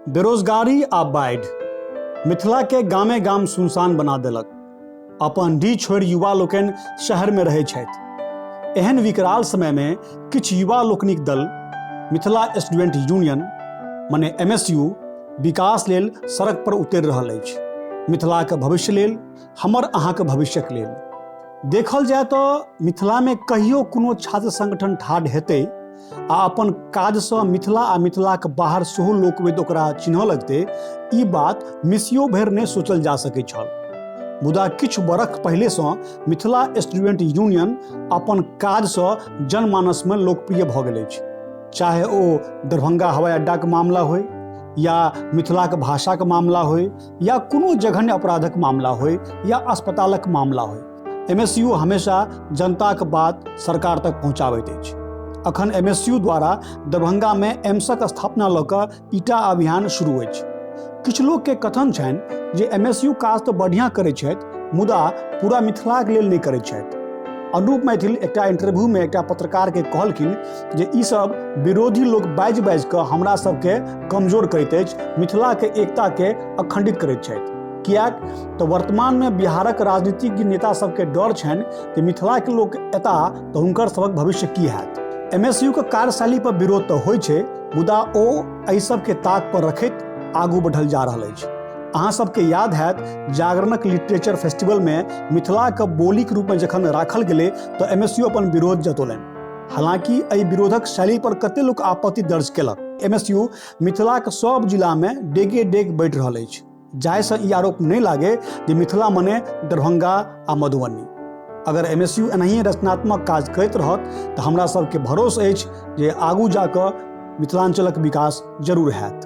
बेरोजगारी आ बाढ़ि मिथिलाके गामे गाम सुनसान बना देलक अपन डी छोड़ि युवा लोकनि शहरमे रहै छथि एहन विकराल समयमे किछु युवा लोकनिक दल मिथिला स्टूडेंट यूनियन मने एम एस यू विकास लेल सड़क पर उतरि रहल अछि मिथिलाके भविष्य लेल हमर अहाँके भविष्यक लेल देखल जाय तऽ मिथिलामे कहियो कोनो छात्र संगठन ठाढ़ हेतै आ अपन काजसँ मिथिला आ मिथिलाक बाहर सेहो लोकवेद ओकरा चिन्ह लगतै ई बात मिसियो भरि नहि सोचल जा सकैत छल मुदा किछु बरख पहिलेसँ मिथिला स्टूडेंट यूनियन अपन काजसँ जनमानसमे लोकप्रिय भऽ गेल अछि चाहे ओ दरभंगा हवाई अड्डाके मामला होय या मिथिलाके भाषाके मामला होय या कोनो जघन्य अपराधक मामला होय या अस्पतालक मामला होय एमएसयू हमेशा जनताक बात सरकार तक पहुँचाबैत अछि अखन एमएसयू द्वारा दरभंगा में एम्सक स्थापना लऽ कऽ ईटा अभियान शुरू अछि किछु लोक के कथन छनि जे एमएसयू काज तऽ बढ़िया करैत छथि मुदा पूरा मिथिलाक लेल नहि करैत छथि अनुप मैथिल एकटा इंटरव्यू में एकटा पत्रकार के कहलखिन जे ई सब विरोधी लोक बाजि बाजि कऽ हमरा सबके कमजोर करैत अछि मिथिलाके एकताके अखंडित करैत छथि किएक तऽ वर्तमानमे बिहारक राजनीतिज्ञ नेता सबके डर छनि जे मिथिलाके लोक एता तऽ हुनकर सबक भविष्य की हैत एम एस यूके कार्यशैली पर विरोध तऽ होइ छै मुदा ओ एहि सबके ताक पर रखैत आगू बढ़ल जा रहल अछि अहाँ सबके याद हैत जागरणक लिटरेचर फेस्टिवलमे मिथिलाके बोलीके रूपमे जखन राखल गेलै तऽ एम एस यू अपन विरोध जतौलनि हालांकि एहि विरोधक शैली पर कते लोक आपत्ति दर्ज केलक एमएसयू मिथिला के सब जिला में डेगे डेग बैठ रहल अछि जाहि से ई आरोप नहीं लागे जे मिथिला मने दरभंगा आ मधुबनी अगर एमएसयू एनाहिए रचनात्मक काज करैत रहत तऽ हमरा सबके भरोस अछि जे आगू जाकऽ मिथिलांचलक विकास जरूर हैत